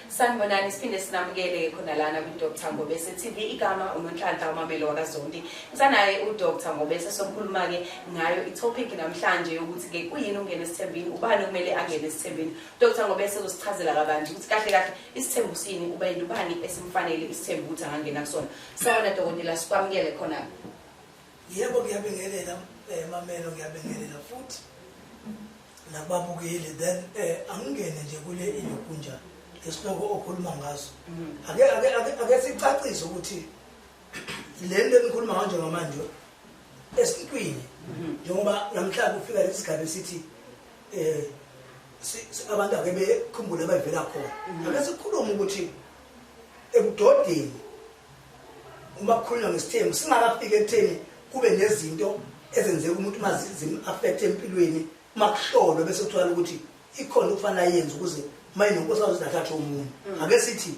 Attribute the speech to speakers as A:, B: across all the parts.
A: sanibonani siphinde sinamukele khona lana kwi-dr ngobese tv igama unonhlanhla umamelo wakazondi ngisanaye udr ngobese sokhuluma-ke ngayo itopic namhlanje yokuthi-ke kuyini ungena esithembini ubani okumele angene esithembini udr ngobese uzosichazela kabanzi ukuthi kahle kahle isithembu sini uba yinto ubani esimfanele isithembu ukuthi angangena kusona sawona dokotela sikwamukele khona yebo
B: ngiyabingelela um eh, mamelo ngiyabingelela futhi nababukeli then eh angingene nje kule ilokunja isihloko okhuluma ngaso mm. ake ake ake sicacise ukuthi le nto enikhuluma ngayo njengamanje esintwini mm-hmm. njengoba namhlanje ufika lesigaba esithi eh abantu ake bekhumbule abavela khona mm-hmm. ake sikhulume ukuthi ebudodeni uma kukhulunywa ngesithembu singakafiki ekutheni kube nezinto ezenzeka umuntu uma zim-affekthe empilweni uma kuhlolwe bese kuthola ukuthi ikhona okufanele ayenze ukuze uma inonkosi azothi athathe omunye mm. ake sithi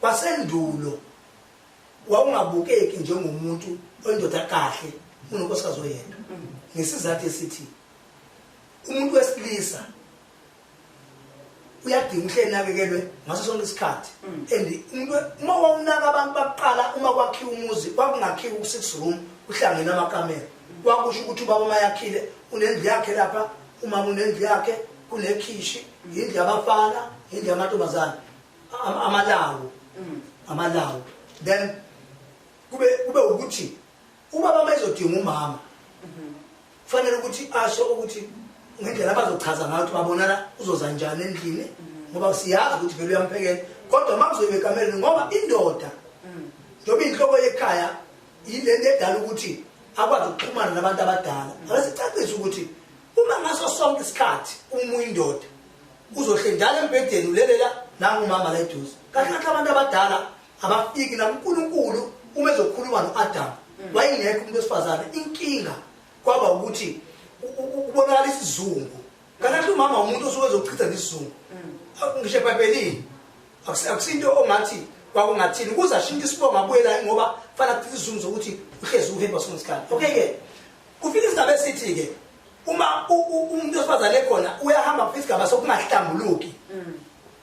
B: kwasendulo wawungabukeki njengomuntu oyindoda kahle unonkosikazi oyedwa mm. ngesizathu esithi umuntu wesilisa uyadinga ukuthi enakekelwe ngaso sonke isikhathi mm. and uma wawunaka abantu bakuqala uma kwakhiwa umuzi kwakungakhiwa ku-six room kuhlangene amakamera kwakusho ukuthi ubaba uma yakhile unendlu yakhe lapha umama unendlu yakhe kunekhishi yindlu yabafana yindlu yamantombazane amalawo mm. amalawo then kube kube ukuthi Uma baba ezodinga umama kufanele ukuthi asho ukuthi ngendlela abazochaza ngayo ukuthi babonana uzoza njani endlini ngoba siyazi ukuthi vele uyamphekela kodwa uma kuzoyibe ekameleni ngoba indoda njengoba inhloko yekhaya yile nto edala ukuthi akwazi ukuxhumana nabantu abadala akasicacise ukuthi uma ngaso sonke isikhathi uma uyindoda uzohle njalo embhedeni ulelela nangumama la eduze kahle kahle abantu abadala abafiki la uNkulunkulu uma ezokhuluma noAdam mm. wayengekho umuntu wesifazane inkinga kwaba ukuthi ubonakala isizungu kanti umama umuntu osuke ezochitha nesizungu mm. ngisho ebhayibhelini akusinto ongathi kwakungathini ukuze ashintshe isibongo abuyela ngoba kufanele kuchithe isizungu sokuthi uhlezi uhemba sonke isikhathi okay-ke kufika isigaba esithi-ke uma umuntu wesifazane ekhona uyahamba kufika isigaba sokungahlambuluki mm.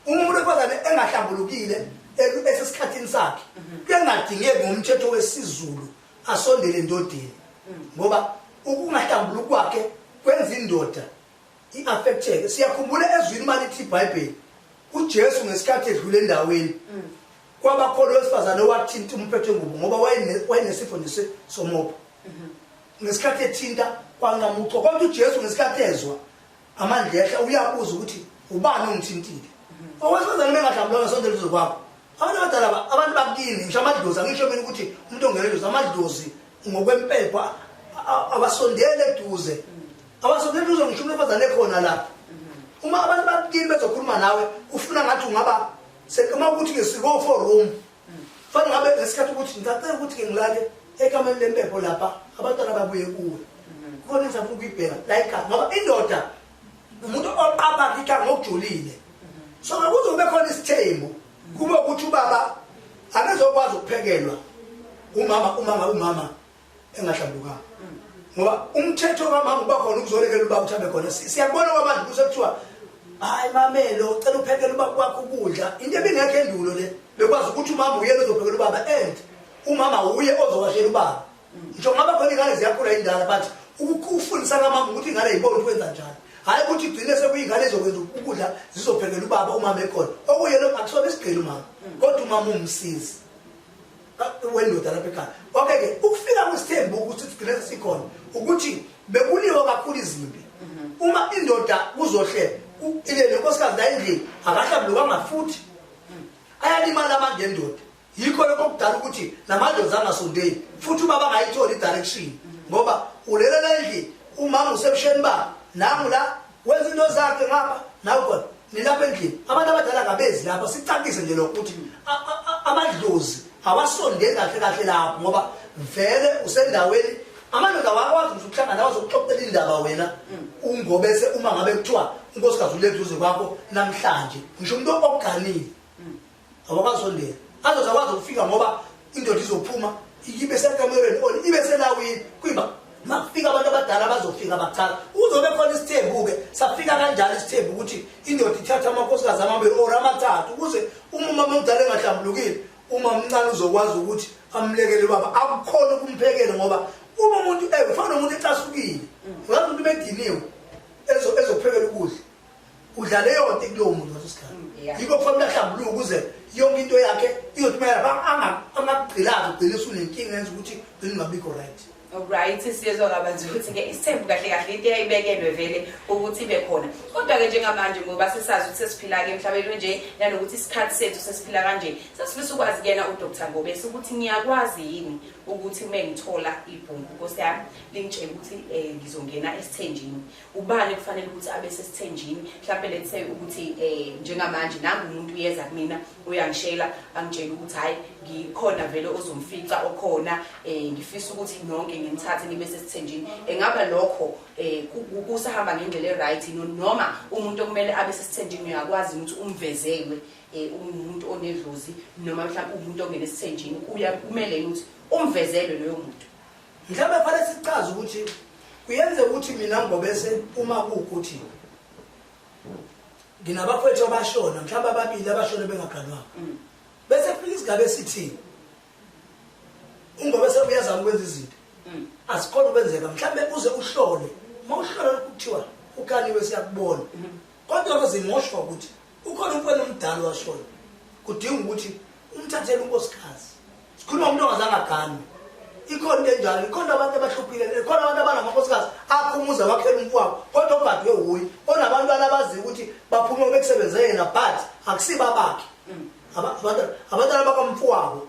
B: Uma umuntu wesifazane engahlambulukile elu- esesikhathini sakhe kuyangadingeki ngomthetho wesiZulu asondele endodeni ngoba ukungahlambuluki kwakhe kwenza indoda i-affecteke siyakhumbula ezwini uma lithi ibhayibheli ujesu ngesikhathi edlule endaweni kwabakhona owesifazane owathinta umphetho wengubo ngoba wayene- wayenesifo nje se- somoba ngesikhathi ethinta kwanqamuchwa kodwa ujesu ngesikhathi ezwa amandlehle uyabuza ukuthi ubani ongithintile owesifazane bengadlamlona sonto lizo kwakho abantu abadala abantu bakini ngisho amadlozi angisho mina ukuthi umuntu ongeledlozi amadlozi ngokwempepha abasondele eduze abasondele eduze ngisho umuntu ofazane ekhona la uma abantu bakini bezokhuluma nawe ufuna ngathi ungaba uma ukuthi ngesiko-forum fanele ngabe ngesikhathi ukuthi ngisacela ukuthi ke ngilale ekameni lempepho lapha abantwana babuye kuwe khona engizafuna ukuyibheka like ngoba indoda umuntu oqapha kika ngokujulile so ngakuzobe khona isithembu kube ukuthi ubaba akazokwazi ukuphekelwa umama umama umama engahlambukanga ngoba umthetho kamama uba khona ukuzolekela uba uthambe khona siyakubona kwamanje kuse kuthiwa hayi mamelo ucela uphekela uba kwakho ukudla into ebingekho endulo le bekwazi ukuthi umama uyena ozophekela ubaba and umama uye ozowashela ubaba ngisho ngaba khona ingane ziyakhula indala but ukufundisa kamama ukuthi ingane yibona ukwenza njani hhayi ukuthi igcine sekuyingane ezokwenza ukudla zizophekela ubaba umama ekhona okuyena akusona isigqeli umama kodwa umama umsizi wendoda lapha ekhaya okay ke ukufika kwesithembu ukuthi sigcine sikhona ukuthi bekuliwa kakhulu izimpi mhm. uma indoda kuzohlele ile lenkosikazi la endlini akahlambulukanga futhi mhm. ayalimala amanje endoda yikho lokho kudala ukuthi namadlozi angasondeli futhi ubaba angayitholi i-direction mhm. ngoba ulelela endlini umama usebusheni babo nangu la Wenza into zakhe ngapha nawe khona nilapha endlini abantu abadala ngabezi lapha sicacise nje lokho ukuthi amadlozi awasondeli kahle kahle lapho ngoba vele usendaweni amadoda awakwazi nje ukuhlangana akwazi ukuxoxela indaba wena ungobese uma ngabe kuthiwa unkosikazi uleduze kwakho namhlanje ngisho umuntu oganile awakazondela azoze akwazi ukufika ngoba indoda izophuma ibe sekamerweni or ibe selawini kwiba makufika abantu abadala bazofika bacala uzobe khona isithembu-ke safika kanjalo isithembu ukuthi indoda ithatha amakhosikazi amabili or amathathu ukuze uma umama omdala engahlambulukile uma mncane uzokwazi ukuthi amlekele ubaba akukhona ukumphekela ngoba uma umuntu eh, ufana nomuntu ecasukile ngazi umuntu bediniwe ezophekela ukudla udlala eyonto kulowo muntu ngaso sikhathi mm, yikho kufanele ahlambuluke ukuze yonke into yakhe iyothumelela angakugqilazi ugcine usunenkinga yenza ukuthi ugcine ungabikho right right siyezwa
A: kabanzi ukuthi-ke isithembu kahle kahle into eyayibekelwe vele ukuthi ibe khona kodwa-ke njengamanje ngoba sesazi ukuthi sesiphila-ke emhlabeni onje nanokuthi isikhathi sethu sesiphila kanje sesifisa ukwazi kuyena udr ngobesi ukuthi ngiyakwazi yini ukuthi uma ngithola ibhungu nkosi yami lingitshela ukuthi um ngizongena esithenjini ubani kufanele ukuthi abe sesithenjini mhlawumbe let's say ukuthi um njengamanje nangu umuntu uyeza kumina uyangishela angitshela ukuthi hhayi ngikhona vele ozomfica okhona um ngifisa ukuthi nonke ngimthathe nibe sesithenjini engaba lokho um kusahamba ngendlela e-right noma umuntu okumele abe sesithenjini uyakwazi ukuthi umvezelwe um umuntu onedlozi noma mhlawumbe umuntu ongene esithenjini kumele ukuthi umvezelwe loyo muntu Mhlawumbe kufanele
B: sicaze ukuthi kuyenzeka ukuthi mina ngibobese uma kuwukuthi nginabafowethu abashona mhlawumbe ababili abashone bengaganwanga mm. bese kufika isigaba esithini ungobese uyazama ukwenza izinto mm. asikhona ukwenzeka mhlawumbe uze uhlole uma uhlola lokhu kuthiwa ukaniwe siyakubona mm-hmm. kodwa ke zingosho ukuthi ukhona umfana omdala washona kudinga ukuthi umthathele unkosikazi sikhuluma umuntu ongazange aganwe ikhona into enjalo ikhona abantu abahluphile ikhona abantu abangamakhosikazi akho umuzi awakhela umntu wabo kodwa ogadwe wuye onabantwana abaziyo ukuthi baphuma bekusebenzele yena but akusiba bakhe mm. abantwana bakamfu wabo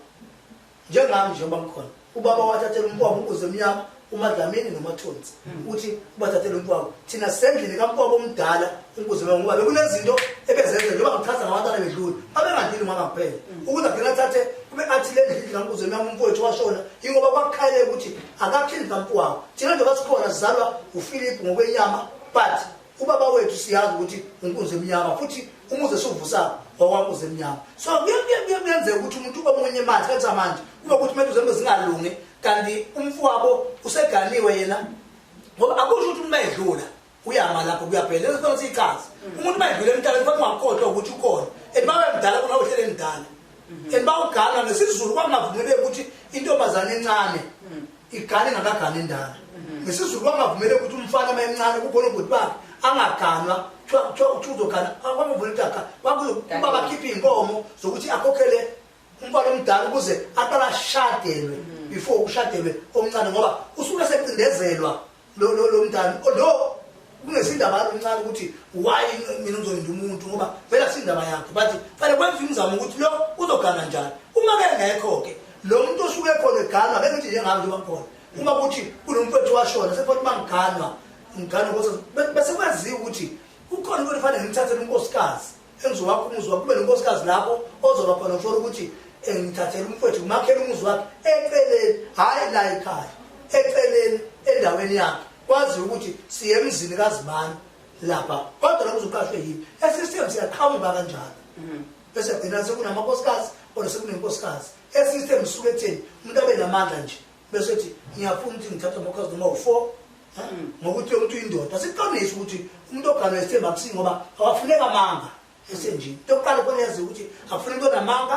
B: njengami nje uma ngikhona ubaba wathathela umkwabo unkuzi emnyama umadlamini nomathonsi hmm. uthi ubathathela umkwabo thina sendlini kamkwabo omdala unkuzi emnyama ngoba bekunezinto ebezenze njengoba ngichaza ngabantwana bedlula babengandlili ngoba kuphela hmm. ukuze agcina athathe kube athi le ndlini kankuzi emnyama umfowethu washona ingoba kwakukhaye ukuthi akakhindi kamkwabo thina nje basikhona sizalwa ufilip ngokwenyama but ubaba wethu siyazi ukuthi unkunzi emnyama futhi umuze siwuvusako wawamuze emnyama so kuyenzeka ukuthi umuntu omunye manje kanti samanje kuba ukuthi kumele uzembe zingalungi kanti umfowabo useganiwe yena ngoba akusho ukuthi uma edlula uyama lapho kuyaphela lento sifana siyichazi umuntu uma edlula emhlabeni kufanele ungakhohlwa ukuthi ukhona and uma wemdala kona uhlele emdala Mhm. and bawugana ngesizulu kwakungavumeleki ukuthi intombazane encane mhm. igane ngakagana endala mhm. ngesizulu kwakungavumeleki ukuthi umfana uma encane kukhona ubhuti bakhe angaganwa kuthiwa uthi uzogana kwakuvula idaka kwakuba bakhiphe iy'nkomo zokuthi akhokhele umfana omdala ukuze aqala ashadelwe before kushadelwe omncane ngoba usuke secindezelwa lo lo lo mntana oh, lo kungesindaba yalo mncane ukuthi why mina ngizolinda umuntu ngoba vela sindaba yakhe but fanele kwenza umzamo ukuthi lo uzogana njani uma ke ngekho-ke lo muntu osuke khona eganwa ngeke ngithi njengami njengoba ngikhona uma kuthi kunomfethu washona sekufanele uba ngiganwa ngiganwa bese kwaziwa ukuthi kukhona into efanele ngimthathele unkosikazi engizowakha umuzi wakho kube nonkosikazi lapho ozoba khona kusho ukuthi eh, ngithathele umfowethu ngimakhele umuzi wakhe eceleni hhayi la ekhaya eceleni endaweni yakhe kwaziwa ukuthi siye emzini kazimani lapha kodwa lokho uzoqashwe yini esistem siyaqhamuka kanjalo mhm. bese gcina sekunamakosikazi kodwa sekunenkosikazi esistem suke ekutheni umuntu abe namandla nje bese ethi ngiyafuna ukuthi ngithathe amakhazi noma u-four hmm. ngokuthi yomuntu uyindoda siqinise ukuthi umuntu oganwe isithemba akusingi ngoba awafuneka amanga esenjini into yokuqala ukubona yazi ukuthi akufuna into namanga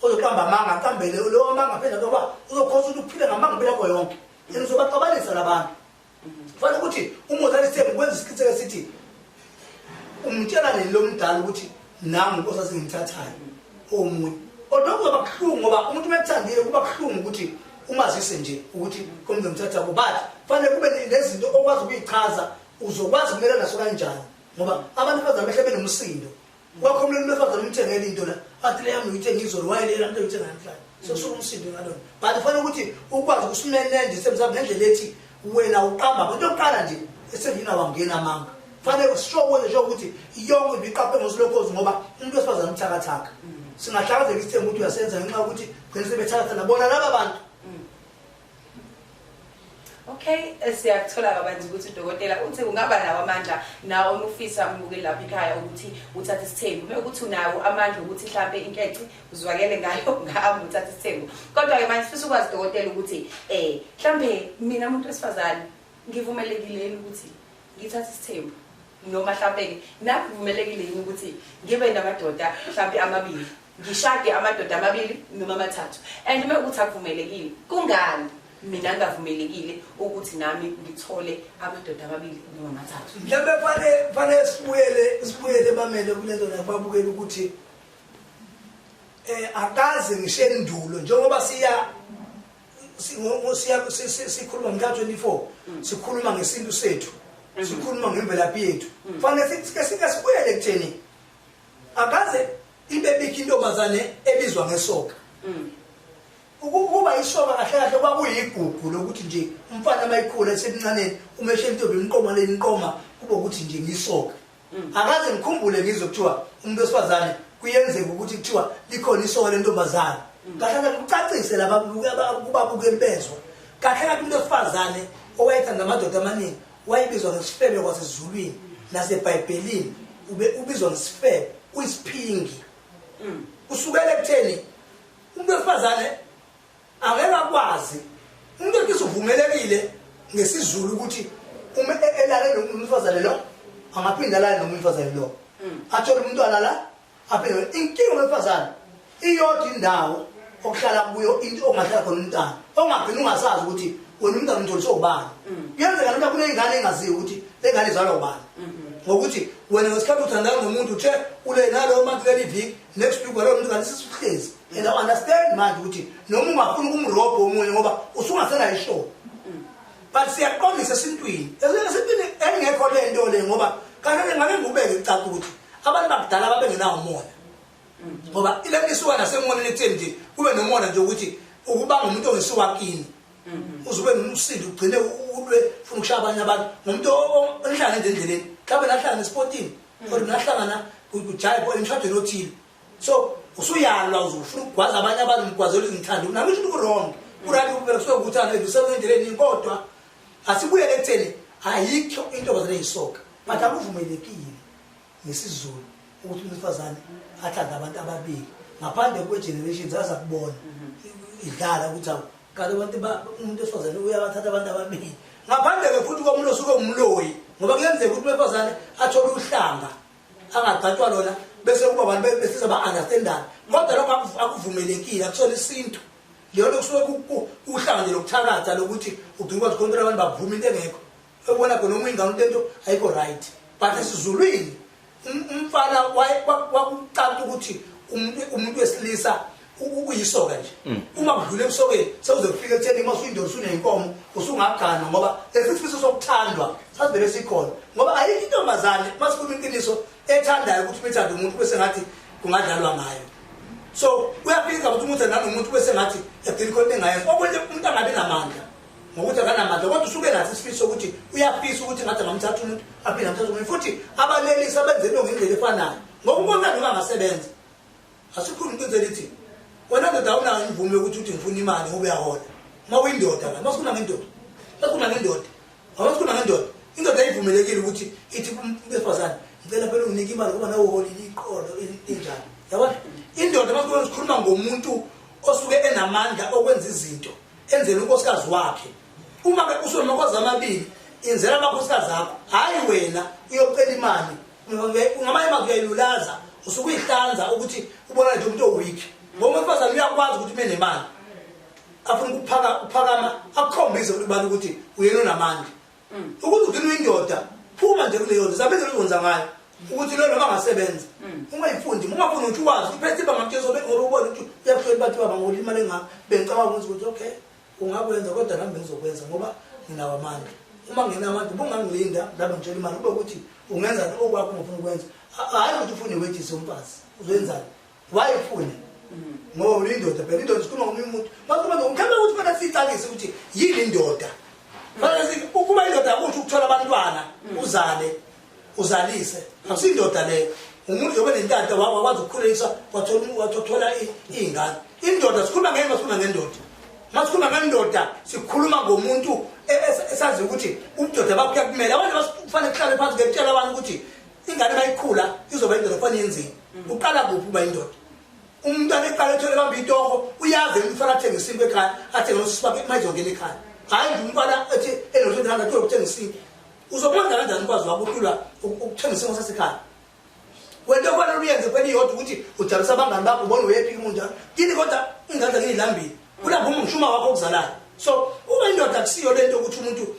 B: ozoqamba amanga aqambele lowo amanga phela ngoba uzokhosa ukuthi uphile ngamanga impilo yakho yonke and uzobaxabanisa labantu fanele ukuthi umozali sithembu kwenza isiqiniseko sithi umtshela nini lo mdala ukuthi nami nkosi asengimthathayo omunye kodwa kuzoba buhlungu ngoba umuntu uma ekuthandile kuba buhlungu ukuthi umazise nje ukuthi komntu ngimthatha kubo but fanele kube nezinto okwazi ukuyichaza uzokwazi kumela naso kanjani ngoba abantu bazamehla benomsindo Kwakho mlimi befazana umthengele into la. Athi le yami uyithenga izolo wayele la mntu uyithenga namhlanje. Sekusho umsindo ngalona. But fanele ukuthi ukwazi ukusimenende semzabe ngendlela ethi wena uqamba abantu yokuqala nje esengina wangena amanga. Fanele usishokole nje ukuthi yonke into iqaphe ngosilokhozi ngoba umuntu wesifazana uthakathaka. Singahlakazeka isithembu ukuthi uyasenza ngenxa yokuthi gcina sebethakatha nabona laba bantu.
A: Okay, eh, siyakuthola kabanzi ukuthi udokotela uthe kungaba nawo amandla nawo onufisa umbuke lapha ekhaya ukuthi uthathe isithembu. Uma ukuthi unawo amandla ukuthi mhlambe inkece uzwakele ngayo ngahamba uthathe isithembu. Kodwa ke manje sifisa ukwazi dokotela ukuthi eh mhlambe mina umuntu wesifazane ngivumelekile ukuthi ngithatha isithembu noma mhlawumbe-ke nami kuvumelekile yini ukuthi ngibe namadoda mhlawumbe amabili ngishade amadoda amabili noma amathathu and uma ukuthi akuvumelekile kungani mina ngingavumelekile ukuthi nami ngithole amadoda amabili noma amathathu mhlawumbe fane fane
B: sibuyele sibuyele bamele kulento la babukele ukuthi eh akaze ngishendulo njengoba siya sikhuluma ngomhla 24 mm. sikhuluma ngesintu sethu mm. sikhuluma ngemvelaphi yethu mm. fanele sike sibuyele kutheni akaze ibe bikho intombazane ebizwa ngesoka ukuba isoka kahle kahle kwakuyigugu lokuthi nje umfana uma ikhula esemncaneni uma eshentombi imqoma le imqoma kube ukuthi nje ngisoka Mm. akaze ngikhumbule ngizwe kuthiwa umuntu wesifazane kuyenzeka ukuthi kuthiwa likhona isoka lentombazane mm. kahle kahle kucacise laba kubabukeli bezwa kahle kahle umuntu wesifazane owayethanda amadoda amaningi wayebizwa ngesifebe kwasezulwini nasebhayibhelini ubizwa ngesifebe uyisiphingi mm. kusukela ekutheni umuntu wesifazane angeke akwazi umuntu ethi uvumelekile ngesizulu ukuthi uma e-, elale nomfazane lo angaphinde alale noma umfazane lo mm. athole umntwana la aphinde inkinga wemfazane iyodwa indawo okuhlala kuyo into ongahlala khona umntana ongagcina ungasazi ukuthi wena umntana umtholi sowubani mm. kuyenzeka noma kuneyingane engaziyo ukuthi le ngane izalwa ubani mm-hmm. ngokuthi wena ngesikhathi uthandana nomuntu uthe ule nalo manje leli viki next week walowo mntu kanti sisihlezi and i understand manje ukuthi noma ungafuna ukumrobho omunye ngoba usungasenayo ishow but siyaqondisa esintwini esintwini engekho le nto le ngoba kanti ngabe ngikubeke kucaca ukuthi abantu bakudala babengenawo umona ngoba ile nto isuka nasemoneni ekutheni nje kube nomona nje ukuthi ukubanga umuntu ongesuka kini mm-hmm. uze ube nomsindo ugcine ulwe funa ukushaya abanye abantu ngomuntu onihlangana nje endleleni mhlawumbe nahlangana esipotini mm. or nahlangana kujayibo emshadweni othile so usuyalwa uzufuna ukugwaza abanye abantu ngigwazela izinhlandu nami isho ukuthi wrong uright ukubeka kusuke ukuthi ana ngisebenza endleleni kodwa asibuyele ekutheni ayikho intombazane eyisoka but akuvumelekile ngesizulu ukuthi umfazane athanda abantu ababili ngaphandle kwe-generations aza kubona mhm. idlala ukuthi awu kanti abantu umuntu esifazane uyabathatha abantu ababili ngaphandle-ke futhi komuntu osuke umloyi ngoba kuyenzeka ukuthi umfazane athole uhlanga angagcatshwa lona bese kuba abantu besiza ba-understandane kodwa lokho akuvumelekile akusona isintu leyonto kusuke kuhlanga nje lokuthakatha lokuthi ugcina ukwazi khontola abantu bavume into engekho ebona khona uma ingane into ento ayikho right but esizulwini um, umfana kwakucanta ukuthi umuntu wesilisa ukuyisoka nje mm. uma kudlula emsokeni sewuze kufika ekutheni uma usuyindoda usuneyinkomo usungagana ngoba lesisifiso sokuthandwa sasivele sikhona ngoba ayikho intombazane uma sikhuluma iqiniso ethandayo ukuthi umethanda umuntu kube sengathi kungadlalwa ngayo so uyafika ukuthi umuntu nanomuntu kube sengathi egcina khona engayenza okunye umuntu angabi namandla ngokuthi akanamandla kodwa usuke nathi isifiso ukuthi uyafisa ukuthi ngathi angamthatha umuntu aphinde amthatha umuntu futhi abalelisi abenze into ngendlela efanayo ngoba umonani ungangasebenza asikhulumi iqiniso elithi wena ndoda awunayo imvume yokuthi uthi ngifuna imali ngoba uyahola uma uyindoda la masikhuluma ngendoda masikhuluma ngendoda awasikhuluma ngendoda indoda ayivumelekile ukuthi ithi besifazane ngicela phela unginike imali ngoba nawe uholile iqolo injani yabona indoda masikhuluma sikhuluma ngomuntu osuke enamandla okwenza izinto enzela unkosikazi wakhe uma ke usuke amakhosikazi amabili inzela amakhosikazi akho hhayi wena uyocela imali ngamanye amazwi uyayilulaza usuke uyihlanza ukuthi ubona nje umuntu oweak ngoba umfazane uyakwazi ukuthi ume nemali afuna ukuphakama akukhombise ukuthi ubani ukuthi uyena onamandla mm. ukuthi ugcina uyindoda phuma nje kuleyo nto zabe nje uzonza ngayo ukuthi lo noma angasebenza mm. ungayifundi ungafuni ukuthi uwazi uphethe ibanga mtshela sobe ngoba ubona ukuthi uyakuhlola bathi baba ngolimali engaka bengicabanga ukuthi okay ungakwenza kodwa nami bengizokwenza ngoba nginawo amandla uma ngingenawo amandla ubungangilinda laba ngitshela imali kube ukuthi ungenzani okwakho ngifuna ukwenza hhayi ukuthi ufune iwejisi yomfazi uzoyenzani waye ufune ngoba ulindoda phela indoda sikhuluma ngomunye umuntu makuba ngikhambe ukuthi fana siyicakise ukuthi yini indoda fana ukuba indoda yakusho ukuthola abantwana uzale uzalise akusindoda leyo umuntu yobe nentanta wakho wakwazi ukukhuliswa wathola iy'ngane indoda sikhuluma ngeke masikhuluma ngendoda masikhuluma ngendoda sikhuluma ngomuntu e, e, esaziyo ukuthi ubudoda bakho kuyakumele abantu basifanele kuhlale phansi ngekutshela abantu ukuthi ingane mayikhula izoba indoda kufana yenzini mm. uqala kuphi uba indoda umuntu aneqala ethole bamba itoho uyazi umfana athenge isinto ekhaya athenge nosisi bakhe mayizongena ekhaya hhayi nje umfana ethi enothethanda tolokuthenga isinto uzokwenza kanjani ukwazi wakho ukulwa ukuthenga isimo sasekhaya wento ofanele uyenze kweliyodwa ukuthi ujalisa abangani bakho ubone uyephika umuntu njalo kini kodwa ingane zakini ilambile kulapho uma ngishuma wakho okuzalayo so uma indoda akusiyo lento ukuthi umuntu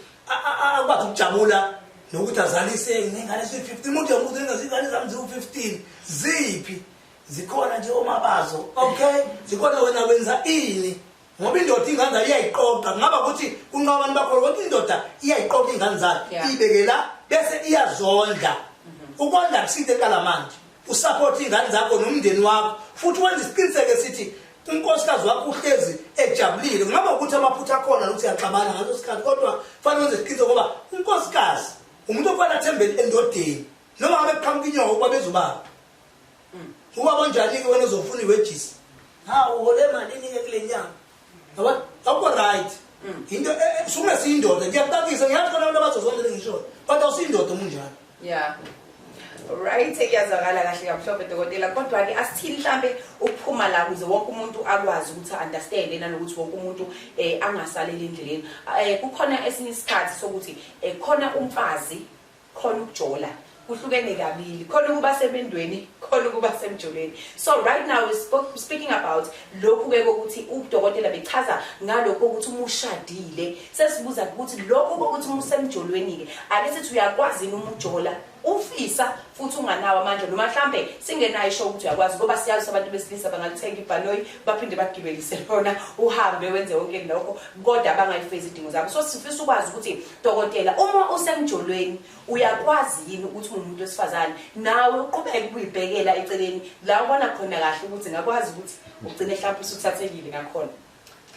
B: akwazi ukujabula nokuthi azalise nengane eziwu-15 umuntu yomuntu engazingane zami ziwu-15 ziphi zikhona nje omabazo okay zikhona wena wenza ini ngoba indoda ingane zayo iyayiqoqa ngaba ukuthi unqabani bakho ukuthi indoda iyayiqoqa ingane zayo ibekela bese iyazondla mhm. ukondla kuside kala manje usupport ingane zakho nomndeni wakho futhi wenza isiqiniseke sithi unkosikazi wakho uhlezi ejabulile ngaba ukuthi amaphutha akhona nokuthi yaxabana ngaleso sikhathi kodwa fanele wenze isiqiniseko ngoba unkosikazi umuntu ofanele athembele endodeni noma ngabe kuqhamuka inyoko ukuba bezobaba Uba onjani-ke wena uzofuna iwejisi? Ha uhole malini-ke kule nyanga? Yabona? Awukho right. Into e- e- suke siyindoda ngiyakuqakisa ngiyazi khona abantu abazozondela ngisho kodwa usiyindoda umunjalo. Yeah.
A: Right, kuyazwakala kahle kamhlophe dokotela kodwa ke asithini mhlambe ukuphuma la kuze wonke umuntu akwazi ukuthi understand nanokuthi wonke umuntu eh angasaleli endleleni. Eh kukhona esinye isikhathi sokuthi eh khona umfazi khona ukujola kuhlukene kabili khona ukuba semendweni khona ukuba semjolweni so right now we spoke, speaking about lokhu ke kokuthi udokotela bechaza ngalokho ukuthi uma ushadile sesibuza ukuthi lokho kokuthi uma usemjolweni ke ake sithi uyakwazi yini uma ujola ufisa futhi unganawo amandla noma mhlambe singenayo isho ukuthi uyakwazi ngoba siyazi abantu besilisa bangalithenga ibhanoyi baphinde bagibelise lona uhambe wenze wonke lokho kodwa bangayifezi idingo zabo so sifisa ukwazi ukuthi Dokotela, uma usemjolweni uyakwazi yini ukuthi ungumuntu wesifazane nawe uqhubeke ukuyibhekela eceleni la ubona khona kahle ukuthi ngakwazi ukuthi ugcine mhlawumbe usuthathekile ngakhona.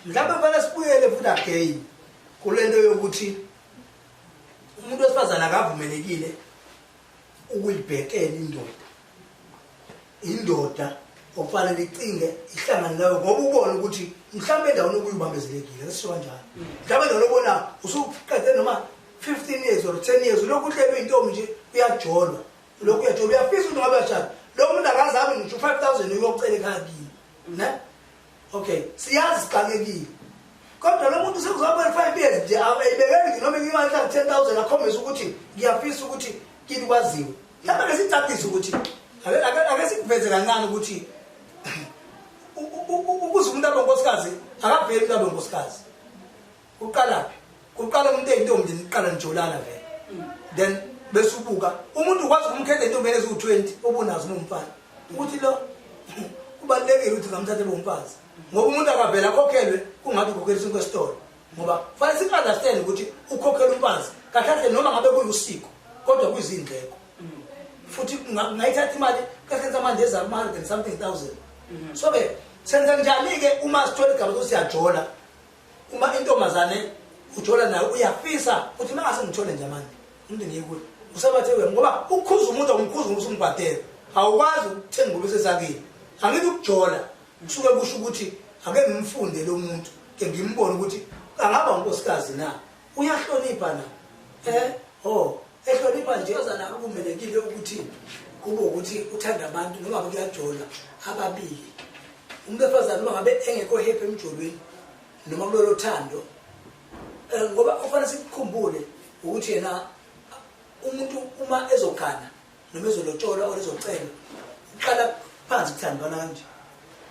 A: Mhlawumbe kufanele
B: sibuyele futhi again kulento yokuthi umuntu wesifazane akavumelekile ukuyibhekela indoda. indoda okufanele icinge ihlangane nayo ngoba ubone ukuthi mhlawumbe endaweni okuyibambezelekile ngisisho kanjalo mhlawumbe endaweni obona usuqede noma 15 years or 10 years ulokhu uhlelwe intombi nje uyajolwa ulokhu uyajolwa uyafisa ukuthi ngabe uyashada lo muntu akazami ngisho 5000 uyocela ekhaya kini ne okay siyazi sixakekile kodwa lo muntu sekuzoba 5 years nje ayibekeli noma imali ka 10000 akhombisa ukuthi ngiyafisa ukuthi kini kwaziwe Mhlawumbe ke sicacise ukuthi ake- ake ake sikuveze kancane ukuthi u- u- u- ukuze umuntu abe unkosikazi akaveli umuntu abe unkosikazi. Uqalaphi? Uqala umuntu eyintombi niqala nijolana vele. Then bese ubuka umuntu ukwazi ukumkhetha intombi eziwu-20 obunazo nomfana ukuthi lo kubalulekile ukuthi ngamthathe bomfazi ngoba umuntu akavele akhokhelwe kungathi ukhokheliswe kwesitolo ngoba fanele siku-understand ukuthi ukhokhela umfazi kahle kahle noma ngabe kuyusiko kodwa kuyizindleko futhi ngayithatha imali kasenza manje eza kuma hundred and something thousand mhm. so ke senza njani-ke uma sithola igama ukuthi siyajola uma intombazane ujola nayo uyafisa ukuthi uma ngase ngithole nje manje umuntu ngiyekuyo usebathe wena ngoba ukukhuza umuntu awumkhuza ngokuthi umbhadele awukwazi ukuthenga ubusesakile angithi ukujola Kusuke kusho ukuthi ake ngimfunde lo muntu ke ngimbone ukuthi angaba unkosikazi na uyahlonipha na eh oh ehlonipha nje ozana akumelekile ukuthi kube ukuthi uthanda abantu noma kuyajola ababili umuntu efazana noma ngabe engekho happy emjolweni noma kulolo thando eh, ngoba ufanele sikukhumbule ukuthi yena umuntu uma ezogana noma ezolotsholwa or ezocelwa uqala phansi kuthandwana kanje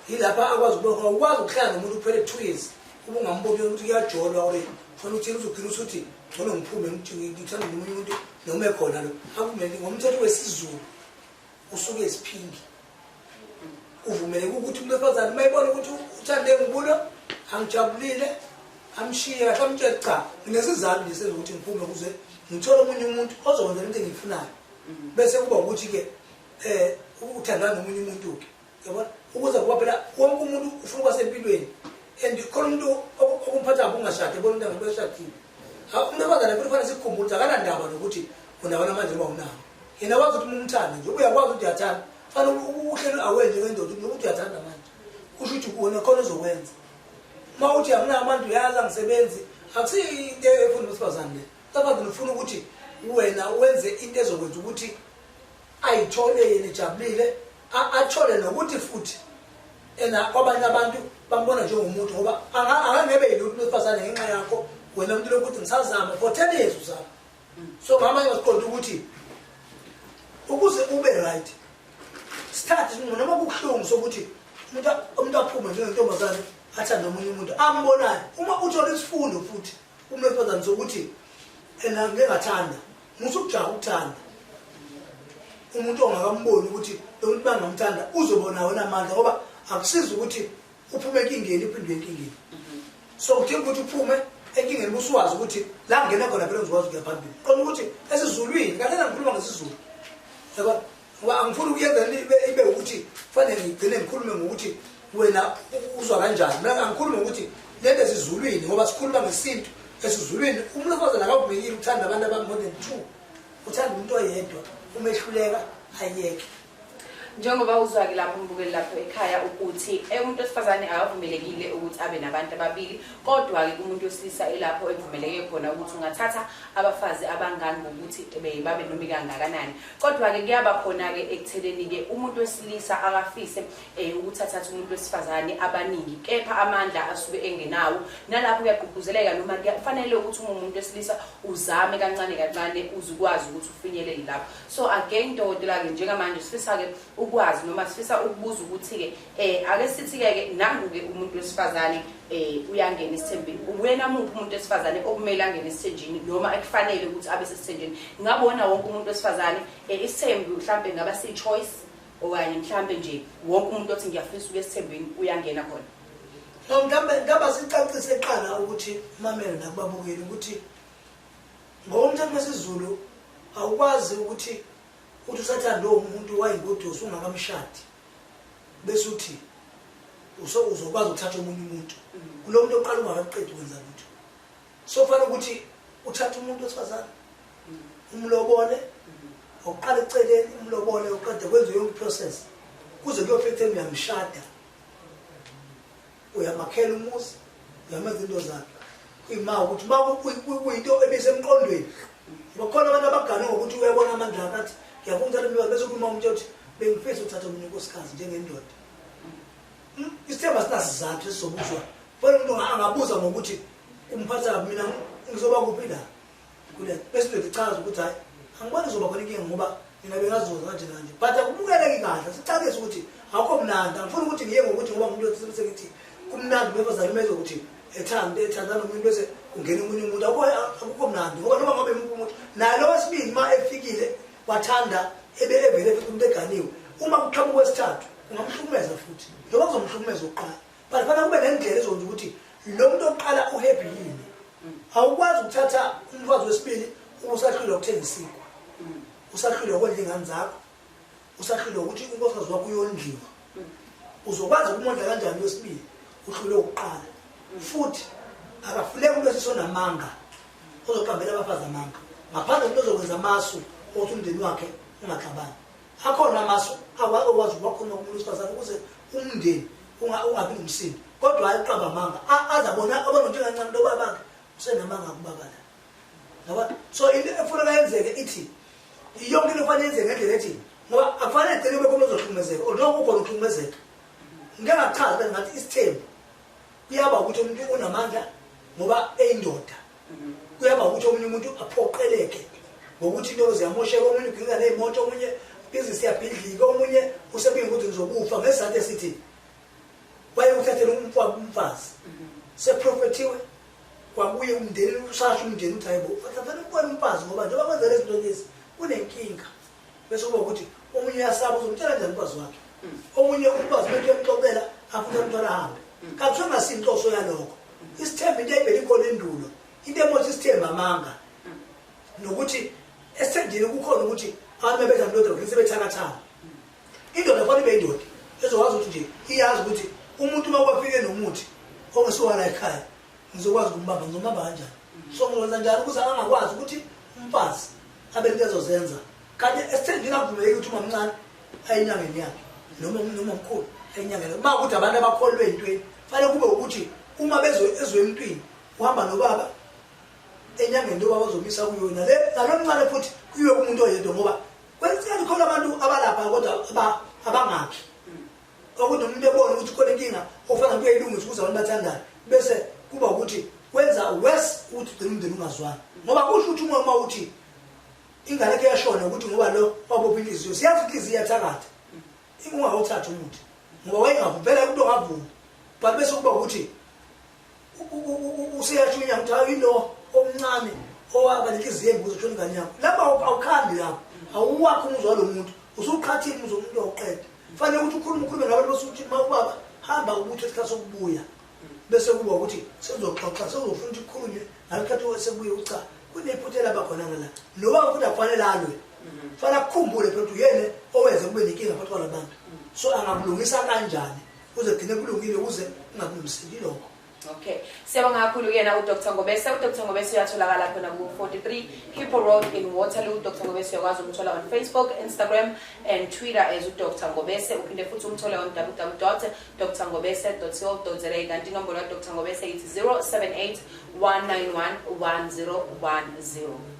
B: yilapha akwazi ukubona ukwazi ukuhlala nomuntu kuphele two years ubungamboni ukuthi kuyajolwa or funa uthini uzophila usuthi ngcono ngiphume ngithanda nomunye umuntu noma ekhona lo akumele ngomthetho wesizulu usuke eziphingi uvumeleke ukuthi umuntu wesifazane uma ebona ukuthi uthande ngibulo angijabulile amshiye kahle amtshele cha nginesizathu nje sezokuthi ngiphume kuze ngithole omunye umuntu ozokwenza into engiyifunayo mm. bese kuba ukuthi-ke um uthandana nomunye umuntu-ke yabona ukuze kuba phela wonke umuntu ufuna uba sempilweni and khona umuntu okumphathabo ungashadi ebona umntu angabeshadile Hawu nabazane futhi fanele sikukhumbule ukuthi akanandaba nokuthi unawo namanje noma unawo. Yena wazi ukuthi umthanda nje uyakwazi ukuthi uyathanda. Fanele uhlelo awenze ngendoda ukuthi nokuthi uyathanda manje. Kusho ukuthi kuwona khona ozokwenza. Uma uthi anginawo amandla uyazi angisebenzi akusiyo into efuna uwesifazane le. Lapha ngifuna ukuthi wena wenze into ezokwenza ukuthi ayithole yena ejabulile athole nokuthi futhi ena kwabanye abantu bambona njengomuntu ngoba angangebe yilutho lwesifazane ngenxa yakho wena mntu lokuthi ngisazama for ten years uzama so mama ngasiqonda ukuthi ukuze ube right start noma kubuhlungu sokuthi umuntu aphume njengentombazane athande omunye umuntu ambonayo uma uthola isifundo futhi umlwesifazane sokuthi ena ngingathanda musa ukujaha ukuthanda umuntu ongakamboni ukuthi lomuntu bangamthanda uzobona wena amandla ngoba akusizi ukuthi uphume enkingeni uphindwe enkingeni so kudinga ukuthi uphume enkingeni busuwazi ukuthi la ngena khona phela uzikwazi ukuya phambili qona ukuthi esizulwini kanena ngikhuluma ngesizulu yabo ngoba angifuni ukuyenza ibe ibe ukuthi kufanele ngigcine ngikhulume ngokuthi wena uzwa kanjani mina angikhulume ngokuthi lento esizulwini ngoba sikhuluma ngesintu esizulwini umlokoza nakawubhekile uthanda abantu abami more than two uthanda umuntu oyedwa umehluleka ayeke njengoba
A: uzwake lapho umbukeli lapho ekhaya ukuthi eh, umuntu wesifazane akavumelekile ukuthi abe nabantu ababili kodwa-ke kumuntu wesilisa ilapho ekuvumeleke khona ukuthi ungathatha abafazi abangani ngokuthi babe nomi kangakanani Kodwa-ke kuyaba khona-ke ekutheneni-ke umuntu wesilisa akafise um ukuthi athathe umuntu wesifazane abaningi kepha amandla asuke engenawo nalapho kuyagqugquzeleka noma kufanele ukuthi uma umuntu wesilisa uzame kancane kancane uze ukwazi ukuthi ufinyelele lapho so again dokotela-ke njengamanje sifisa-ke ukwazi noma sifisa ukubuza ukuthi-ke Eh ake sithi ke nangu ke umuntu wesifazane eh uyangena isithembeni. Uwena muphi umuntu wesifazane okumele angene isithenjini noma ekufanele ukuthi abe sesithenjini. Ngabona wonke umuntu wesifazane eh isithembi mhlambe ngaba si choice okanye mhlambe nje wonke umuntu othi ngiyafisa ukuya esithembini uyangena khona. No ngambe
B: ngaba sicacise eqala ukuthi mamela nakubabukeli ukuthi ngokomthetho wesiZulu awukwazi ukuthi uthi usathanda lowo muntu wayigodosi ungakamshadi. bese uthi uzokwazi ukuthatha omunye umuntu kulo muntu oqala ungakakuqedi ukwenza lutho so kufanele ukuthi uthathe umuntu wesifazane umlobole uqale eceleni umlobole uqede kwenze yonke iprocess kuze kuyofika ekutheni uyamshada uyamakhela umuzi uyamenza into zakhe kuyima ukuthi uma kuyinto ebisemqondweni bakhona abantu abagane ngokuthi uyabona amandla akhe athi ngiyafuna uthatha umntwana bese ukhuluma umuntu othi bengifisa uthatha omunye unkosikazi njengendoda hmm? isithemba sinasizathu esizobuzwa fana umuntu angabuza ngokuthi umphatha kabi mina ngizoba kuphi la kule bese ndoda ichaza ukuthi hayi angiboni kuzoba khona inkinga ngoba mina bengazoza kanje kanje but akubukeleki kahle sicabise ukuthi akho mnandi angifuni ukuthi ngiye ngokuthi ngoba umuntu othile ukuthi kumnandi ngoba zalimeza ukuthi ethanda ethanda nomuntu bese kungena umunye umuntu akukho mnandi ngoba noma ngabe muphi umuntu naye lo wesibili uma efikile wathanda ebe evele futhi umuntu eganiwe uma kuqhamuka wesithathu ungamhlukumeza futhi njengoba kuzomhlukumeza ukuqala but fana kube nendlela ezokwenza ukuthi lo muntu oqala uhappy yini awukwazi ukuthatha umfazi wesibili uma usahlulwa ukuthenga isinkwa usahlulwa ukondla iy'ngane zakho usahlulwa ukuthi unkosikazi wakho uyondliwa uzokwazi ukumondla kanjani wesibili uhlule ukuqala futhi akafuneki umuntu esisonamanga ozoqambela abafazi amanga ngaphandle umuntu ozokwenza amasu okuthi umndeni wakhe ungaxabani akhona amasu awake wazi wakhona umuntu wesifazane ukuze umndeni ungabi nomsindo kodwa hayi uqaba amanga aza bona abona njengancane loba bakhe usenamanga kubaba la ngoba so into efuneka yenzeke ithi yonke into efanele yenzeke ngendlela ethi ngoba akufanele egcine kube khona ozohlukumezeka or noma kukhona ukuhlukumezeka ngeke ngachaza ngathi isithembu kuyaba ukuthi umuntu unamandla ngoba eyindoda kuyaba ukuthi omunye umuntu aphoqeleke ngokuthi into ziyamosheka omunye ugingika neyimoto omunye ibhizinisi yabhidlika omunye usebinga ukuthi ngizokufa ngesizathu esithi wayekuthathela umfazi seprofethiwe kwabuye umndeni usasho umndeni ukuthi hayibo fanele ukubona umfazi ngoba njengoba kwenzela izinto lezi kunenkinga bese kuba ukuthi omunye uyasaba uzomtshela njani umfazi wakhe omunye umfazi bento yamxoxela afuna umntwana ahambe kakusho ngasinhloso yalokho isithemba into ebhele ikhona endulo into emothi isithemba amanga nokuthi esithendini kukhona ukuthi abantu bebetha ndoda ukuthi sebethakathana indoda fanele ibe indoda ezokwazi ukuthi nje iyazi ukuthi umuntu uma kwafike nomuthi ongesiwala ekhaya ngizokwazi ukumbamba ngizomamba kanjani so ngizokwenza njani ukuze angakwazi ukuthi umfazi abelikezozenza kanti esithengile akuvumeleki ukuthi umamncane ayinyangeni yakhe noma noma mkhulu ayinyangeni uma ukuthi abantu abakholwe entweni fanele kube ukuthi uma bezwe ezwe emntwini uhamba nobaba enyangeni njengoba bazomisa kuyona le nalo mncane futhi kuyiwe kumuntu oyedwa ngoba kwesikhathi khona abantu abalapha kodwa abangakhi Okuthi umuntu ebone ukuthi khona inkinga ofana kuyayilungisa ukuze abantu bathandane bese kuba ukuthi kwenza worse ukuthi ugcina umndeni ungazwani ngoba kusho ukuthi umoya uma uthi ingane ke yashona ukuthi ngoba lo wabopha inhliziyo siyazi inhliziyo iyathakatha ingungawuthatha umuthi ngoba wayengavupela umuntu ongavumi but bese kuba ukuthi useyashunya ukuthi hayi lo omncane owaba nenhliziyo embuzo shona ingane yakho lapho awukhambi lapho awuwakho umuzwa lo muntu usuqhathile umuzwa umuntu oqeda fanele ukuthi ukhulume ukhulume nabantu basukuthi uma ubaba hamba ukuthi isikhathi sokubuya bese kuba ukuthi sekuzoxoxa sekuzofuna ukuthi kukhulunywe ngalokhathi sekubuye ucha kunephuthela bakhona ngala noba futhi akufanele alwe fanele akukhumbule phela ukuthi uyena owenze kube nenkinga phakathi kwalabantu so angabulungisa kanjani kuzogcine kulungile ukuze ungakulungiseki lokho okay
A: siyabonga kakhulu kuyena udr ngobese udr ngobese uyatholakala khona ku-43 hippo road in waterloo udr ngobese uyakwazi ukumthola on facebook instagram and twitter as udr ngobese uphinde futhi umthole on www dr ngobese co za kanti inombolo kadr ngobese yithi 078 191 1010